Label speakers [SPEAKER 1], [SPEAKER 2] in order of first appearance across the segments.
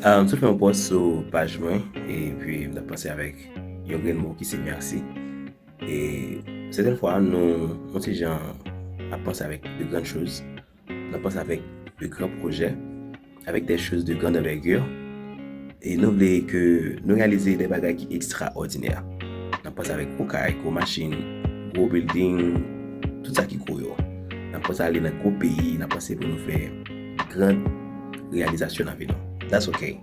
[SPEAKER 1] M sot fè yon pòs sou paj mwen e pi m ta panse avèk yon grenn mo ki se mèsi. E sèten fwa nou nou ti jan ap panse avèk de grann choz, nou ap panse avèk de gran pwojè, avèk de choz de grann anvègè e nou vle ke nou reyalize de bagay ki ekstraòdinè. Nou ap panse avèk gwo kay, gwo machin, gwo bilding, tout sa ki gwo yo. Nou ap panse ale nan gwo peyi, nou ap panse pou nou fè. Grand reyalizasyon nan vi nou. That's ok.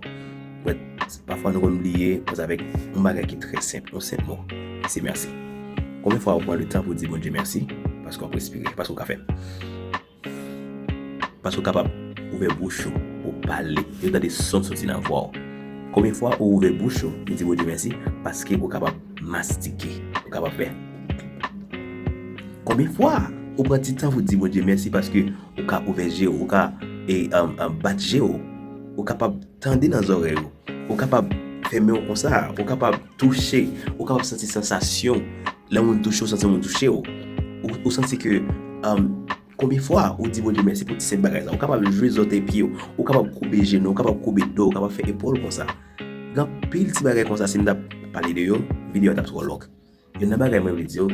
[SPEAKER 1] But pafwa nou konn bliye koz avèk yon bagay ki trè senp, yon senp mo. Se mèsi. Konbyen fwa ou pran le tan pou di Bondye mèsi paske wap respire, paske ou ka fè. Paske ou kapab ouvè bouch ou pou w pale, yo tande son soti nan vwa ou. Konbyen fwa ou ouvè bouch ou pou di Bondye mèsi paske ou kapab mastike, ou kapab fè. Konbyen fwa ou pran ti tan pou di Bondye mèsi paske Ou ka ouvè je w, ou ka bat je w, ou kapab tande nan zòrèy ou, ou kapab fè men w konsa, ou kapab touche, ou kapab santi sansasyon lè moun touche w, santi moun touche w. Ou santi ke konbyen fwa ou di Bondye mèsi pou ti senp bagay sa. Ou kapab jwe zòtèy pye w, ou kapab koube jenou, ou kapab koube do w, ou kapab fè epòl w konsa. Gen anpil ti bagay konsa si m ta pale de yo, videyo a t ap twò long. Youn nan bagay mwen vle di w,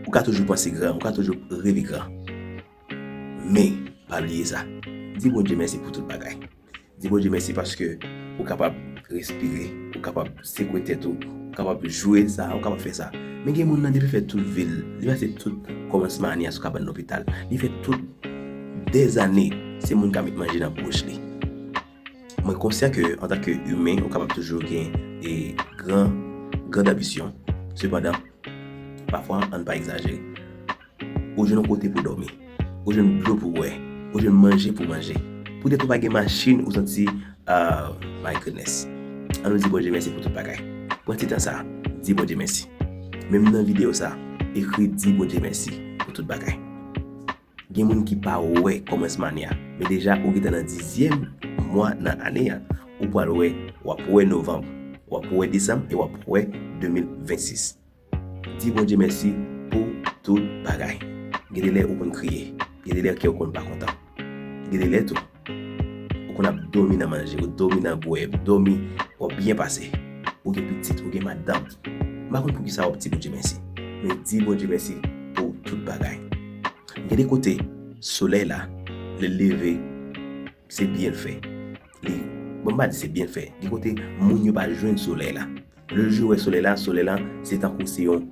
[SPEAKER 1] ou ka toujou panse gran, ou ka toujou reve gran. Men, pa bliye sa, di Bondye mèsi pou tout bagay. Di Bondye mèsi paske ou kapab respire, ou kapab sekwe tèt ou, ou kapab jwe sa, ou kapab fè sa. Men gen moun nan depi l fè tout vi l, li pase tout kòmansman ane a sou kabann lopital, li fè tout dèzane se moun k ap met manje nan bouch li. Mwen konsyan ke antan ke imen ou kapab toujou gen e gran grand anbisyon, sepandan pafwa ann pa egzajere. Ou jwenn yon kote pou dòmi, ou jwenn dlo pou bwè, ou jwenn manje pou manje, poutèt ou pa gen machin ou santi aah my goodness. An nou di Bondye mèsi pou tout bagay. Pran ti tan sa a, di Bondye mèsi. Menm nan videyo sa a, ekri di Bondye mèsi pou tout bagay. Gen moun ki pa wè kòmansman ane a, men deja ou gentan nan dizyèm mwa nan ane a, ou pral wè, wap wè novanm, wap wè desanm e wap wè 2026. Di Bondye mèsi pou tout bagay. Gen de lè ou konn kriye, gen de lè kèw konn pa kontan, gen de lè tou. Ou konn ap dòmi nan manje, ou dòmi nan bwè, ou dòmi, wap byen pase. Ou gen pitit, ou gen madanm. M pa konn poukisa wap di Bondye mèsi. Men di Bondye mèsi pou tout bagay. Gen de kote, solèy la, lè l leve, se byen l fè. Li, bon m pa di se byen l fè. Gen kote, moun yo pa jwenn solèy la. Lè jou yo wè solèy la, solèy la se tankou se yon,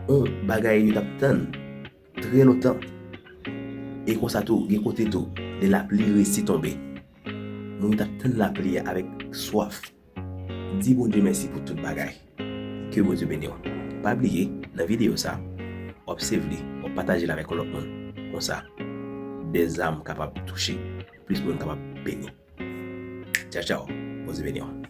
[SPEAKER 1] yon bagay yo tap tann. Trè lontan. E konsa tou, gen kote tou, lè lapli resi tonbe. Moun yo t ap tann lapli a avèk swaf. Di Bondye mèsi pou tout bagay. Ke Bondye beni w. Pa bliye, nan videyo sa, w ap save li, w ap pataje l avèk yon lòt moun. Konsa, bèl zam kapab touche plis moun kapab beni. Tchaw tchaw. Bondye beni w.